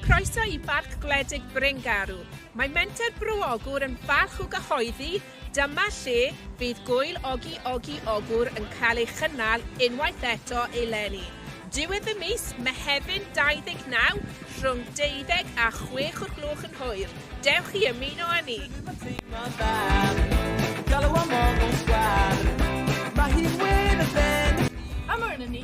Croeso i Barc Gwledig Bryngarw. Mae Menter Bro Ogwr yn falch o gyhoeddi dyma lle fydd gwyl Ogi Ogi Ogwr yn cael ei chynnal unwaith eto eleni. Diwedd y mis, Mehefin 29, rhwng 12 a 6 o'r gloch yn hwyr. Dewch i ymuno â ni! Galw am ogl sgwar, mae hi'n wyn y fen. Am arnyn ni.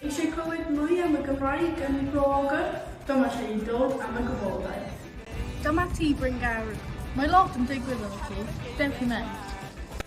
Eisiau clywed mwy am y Gymraeg yn Rhôgr? Dyma lle i ddod am y gwybodaeth. Dyma ti Bryn Gawr. Mae lot yn digwydd efo ti. Dewch i mewn.